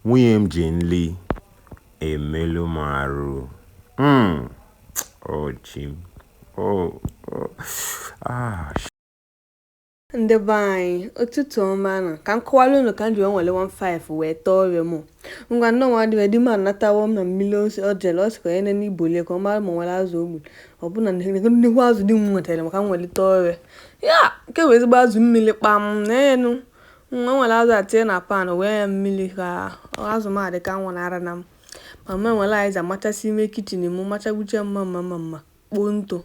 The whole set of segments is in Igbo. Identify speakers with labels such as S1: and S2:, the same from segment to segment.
S1: Nwunye m ji nli emelu m arụ. Hmm. Oh, chi m. Oh, oh. Ah, sh- ndị be anyị ụtụtụ ọma nụ ka m kọwara unu ka m ji wee were 15 wee tee ove m ngwa nne nwa di m anatawo na mmiri o si- o jere ọ sịkwa onye nene igbo lie ka ọ mara ma o nwere azụ o gburu ọ bụ na nnekwu azụ di m wetara m ka m were tee ove ya nke bụ ezigbo azụ mmiri kpam n'enu m wee were azụ a tinye na pan wee ya mmiri ka azụ m adị ka nwụrụ ara na m ma m ewere azịza machasị ime kitchen m machagbuche mma mma mma mma kpoo ntụ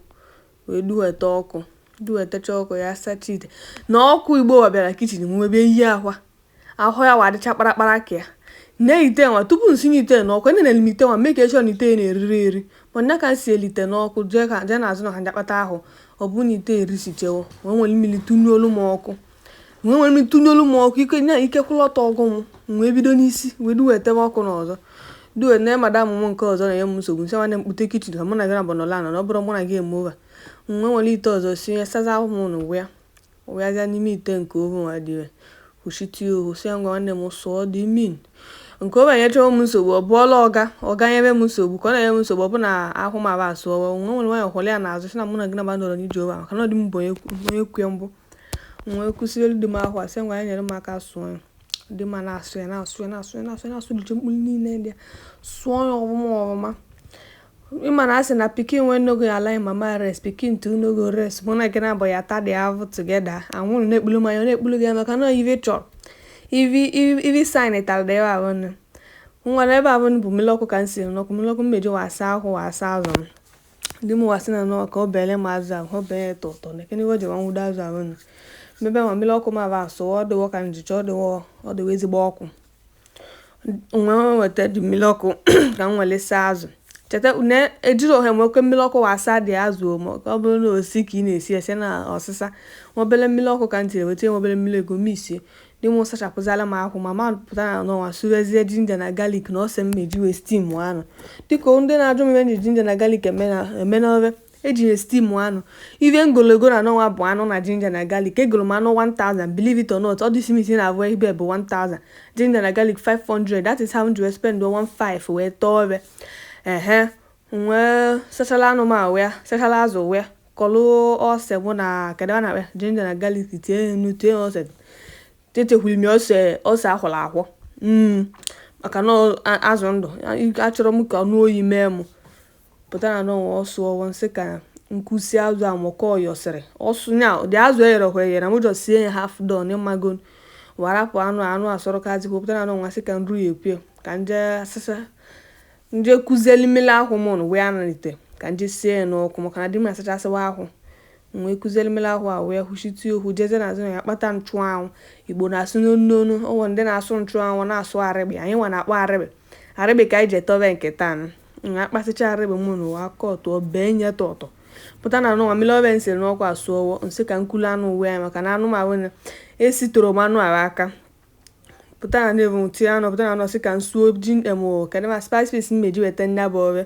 S1: wee duweta ọkụ duwetacha ọkụ ya sacha ite na ọkụ igbo wa bịara kitchen m webe yi akwa ahụ ya wa dịcha kparakpara ka ya na ite nwa tupu m sinye ite n'ọkụ enene m ite nwa mee ka echọ na ite na-eriri eri mana ka m silu ite n'ọkụ jee ka jee n'azụ na ha jakpata ahụ ọ bụrụ na ite erisichewo wee were mmiri tụnyụọlụ m ọkụ wee were tụnyụọlụ m ọkụ ike nya ike kwụrụ ọtọ gwụ m m wee bido n'isi wee duwetebe ọkụ n'ọzọ duwe na madam m nke ọzọ na-enye m nsogbu m sị nwanne m kpute kitchen ka mụ na gị naabọ nọla anọ na ọ bụrụ mụ na gị eme ụva m wee were ite ọzọ sinyezịa ahụ m ụnụ wụ ya wee azịa n'ime ite nke ohu nwa dị ire kwuchite ya ohu si ya ngwa nwanne m sụọ dị min nke obe nyechawa m nsogbu ọ bụọla ọga ọga nyebe m nsogbu ka ọ na-enye m nsogbu ọ bụ na ahụ m aba asụọwa nwa nwere nwanyị hụrụ ya n'azụ sị na mụ na gị naabọ nọrọ n'ije ụba maka na ọ dị m bụ onye kwu- onye kwu ya mbụ m wee kuziere di m ahụ a sị ngwa ya nyere m aka sụọ ya di m na-asụ ya na-asụ ya na-asụ ya na-asụ ya na-asụ dịcha mkpụrụ niile dị ya sụọ ya ọfụma ọfụma ị ma na a sị na pikin wey no go allow im mama rest pikin too no go rest mụ na gị naabọ ya-ata dị ahụ together anwụrụ na-ekpulu m anya na-ekpulu gị ya maka na ive chọrọ ivi saịn tara dị ahụ nne ngwa na ebe ahụ bụ mmiri ọkụ ka m siri n'ọkụ mmiri ọkụ m meji wee saa ahụ wee saa azụ m di mụwa sị na nọọ ka o beere m azụ ahụ o bere ya tọtọ na ekene iwe jewa nwụdo azụ ahụ nụ mmebe ma mmiri ọkụ ma ba asụ ọ dịwo ka njicha ọ dịwo ọ dịwo ezigbo ọkụ m wee weta dị mmiri ọkụ ka m were saa azụ cheta na ejiri ohe nwoke mmiri ọkụ wee saa dị azụ maka ọ bụrụ na osi ka ị na-esi ese na ọsịsa nwobere mmiri ọkụ ka m tiri weta nwobere mmiri ego m isie Di m sachapụzịala m ahụ ma ma pụta na n'ọnwa sụwezie ginger na garlic na ose m meji wee steam anụ dịka ndị na-ajụ m ihe e ji ginger na garlic eme n'ofe e ji ya steam anụ ive m golu ego na n'ọnwa bụ anụ na ginger na garlic egoro m anụ 1000 believe it or not ọ dịsi m isi na abụọ ibe bụ 1000 ginger na garlic 500 that is how m ji wee spend 15 wee tee ove a ehe wee sachala anụ m wee sachala azụ wee kulu ose mụ na kedụ a na-akpọ ginger na garlic tie ya nnu tie ya ose tetekwuru m ya ose ose akwọrọ akwọ Mm, maka na ọ- a- azụ ndụ a- achọrọ m ka ọ nụọ oyi mee m pụta na n'ọnwa ọ sụọwo m sị ka m kwụsị azụ a mụkọ yọsịrị ọsụ nya dị azụ eyerekwa eyere m jọ sie ya half done ị mago warapụ anụ anụ asọrọkazi pụta na n'ọnwa sị ka nru ya ekwe ka m je asịsa M je kuzeli mmiri akwụ m nụ wee anarite ka m je sie ya n'ọkụ maka na di m asachasịwa akwụ. M wee kuzeli mmiri akwụ a wee hụchitie okwu jezie n'azụ ụnọ ya kpata nchụanwụ. Igbo na-asụ n'onu n'onu, o nwere ndị na-asụ nchụanwụ na-asụ arịgbe, anyị nwa na-akpọ arịgbe. Arịgbe ka anyị ji etebe nke taa nụ. M wee kpasịcha arịgbe m nụ wee akọọ tụọ bee nye tọtọ. Pụta na anụ nwa mmiri ọbịa m siri n'ọkụ asụọwo, m sị ka m kulu anụ wụnye maka na anụ m ahụ na esitoro m anụ ahụ aka. pụta na na-ebu m tinye anụ pụta na anọ sị ka m suo ji emo kedụ ma spice paste m meji weta nya bụ ọrụ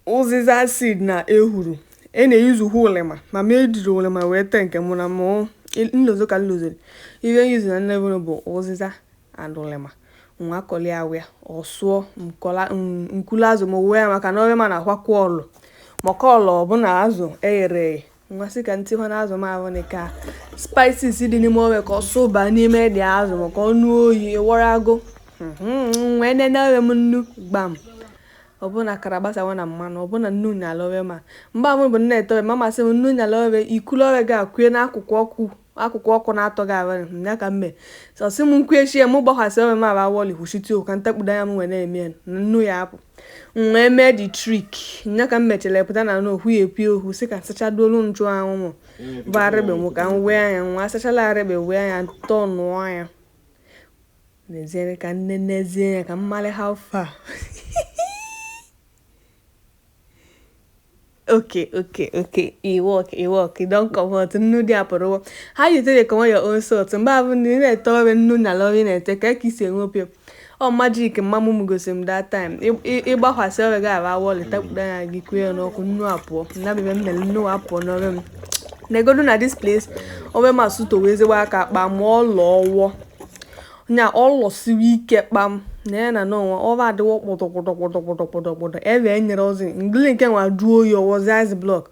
S1: ụzịza seed na ehuru e na-eyuzu hụ ụlịma ma m ejiri ụlịma wee tee nke mụ na mụ m lozọ ka m lozọrọ ihe nyuzu na nnebụrụ bụ ụzịza and ụlịma nwa kọli awịa ọ sụọ m kulu azụ m wụnye ya maka na ọrịa ma na-akwakwa ọlụ maka ọlụ ọbụla azụ eghere eghe m wee sị ka ntị hụ n'azụ m ahụ na ka spices dị n'ime ohe ka ọ sụba n'ime the azụ m ka ọ nụọ oyi ị wọrago mhm, wee nene ohe m nnu gbam ọbụna kara gbasawa na mmanụ ọbụna nnu nyala ohe ma mgbe ahụ bụ m na-etowe mama sị m nnu nyala ohe i kulu ohe ga kụnye n'akụkụ ọkụ akụkụ ọkụ na-atọ gị abalị m ya ka m mee ọ sị m kwuchie ya m gbakwasị ohe m aba awọli hụchite ọkụ m takpudo anya m nwere na-eme ya na nnu ya apụ m wee mee the trick ya ka m mechara pụta na na okwu ya epi okwu sị ka m sachaduolu nchụanwụ m bụ arịgbe m ka m wee anya nwa asachala arịgbe wee anya tọọnụọ ya nezie ka m nenezie ya ka m mara how far okay okay okay e work e work e don comot nnu dị apụrụwo how you take dey comot your own salt mgbe ọbụna ị na-ete ohe nnu nyala ohe ị na-ete ka ka i si ewepụ ọ magic mama m gosiri m that time ị gbakwasị ohe gị ara awọlị takpudo anya gị kue ya n'ọkụ nnu apụọ na bebe m mere nnu apụọ n'ohe m neegodu na this place ohe m asụtowo ezigbo aka kpam ọ lọọwo nya ọ lọsịrị ike kpam na ya na n'onwe ọba adịwo kpọdọkpọdọkpọdọkpọdọkpọdọkpọdọ ebe e nyere ozi ngili nke nwa jụọ oyi ọ wụzi ice block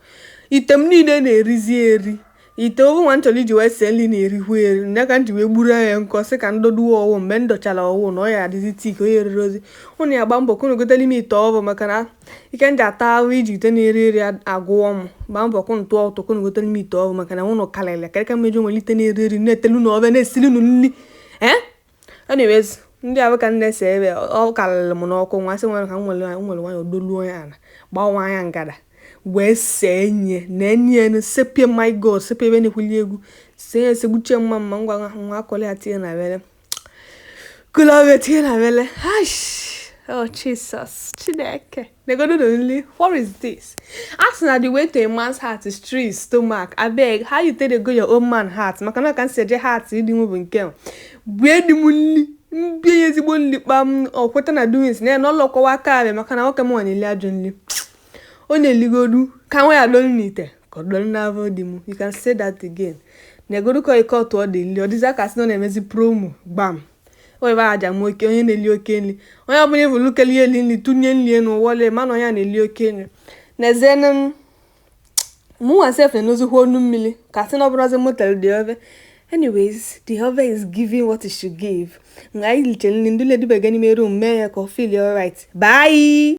S1: ite m niile na-erizi eri ite ọhụ nwa m chọrọ iji wee sie nri na-erikwu eri nne ka m ji wee gburu ya nkọ sị ka m doduwe ọwụ mgbe m dọchara ọwụ na ọ ya adịzi thick onye rere ozi ụnụ ya gba mbọ ka unu gotere m ite ọhụụ maka na ike ndị ata ahụ iji ite na-eri eri agwụ m gbaa mbọ kwụ ntụ ọtụ kwụ nwetara m ite ọgwụ maka na unu karịrị karịa ka mmeji nwere ite na-eri eri na-etelu na ọbịa na-esiri unu nri ee anyways ndị ahụ ka m na-ese ebe ọ karịrị m n'ọkụ nwa sị nwere ka m nwere nwere nwanyị odoluo ya ala gbanwe anya ngada wee see nye na enyi enu sepie my god sepie ebe na-ekwuli egwu see ya esegbuchie mma mma ngwa nwa akọla ya tinye n'avele Kulu ya tinye n'avele. Hush. Oh, Jesus. Chineke. Negodu ụdị nri. What is this? A sị na the way to a man's heart is through his stomach. Abeg. How you take dey go your own man heart? Maka na ka m si eje heart. You didn't move in kill. Where the money? mbie ezigbo nri kpaa m ọ kweta na doings na ya na ọlọkọwa aka abịa maka na nwoke m nwa na-eli ajọ nri ọ na-eligodu kama ya dọrọ n'ite ka ọ dọrọ n'afọ di m you can say that again negodu ka ike ọtụ ọ dị nri ọ dịzi ka a sị na ọ na-emezi promo gbam o ebe aja m oke onye na-eli oke nri onye ọbụla ịbụ lukeli eli nri tụnye nri enu wọle mana onye a na-eli oke nri na-ezienụ m mụnwa sef na-enozikwa ọnụ mmiri ka a sị na ọ bụrọzi m tere the ove anyways the ove is giving what it should give mgbe anyị lichaa nri ndị ledubega n'ime room mee ya ka ọ feel alright bye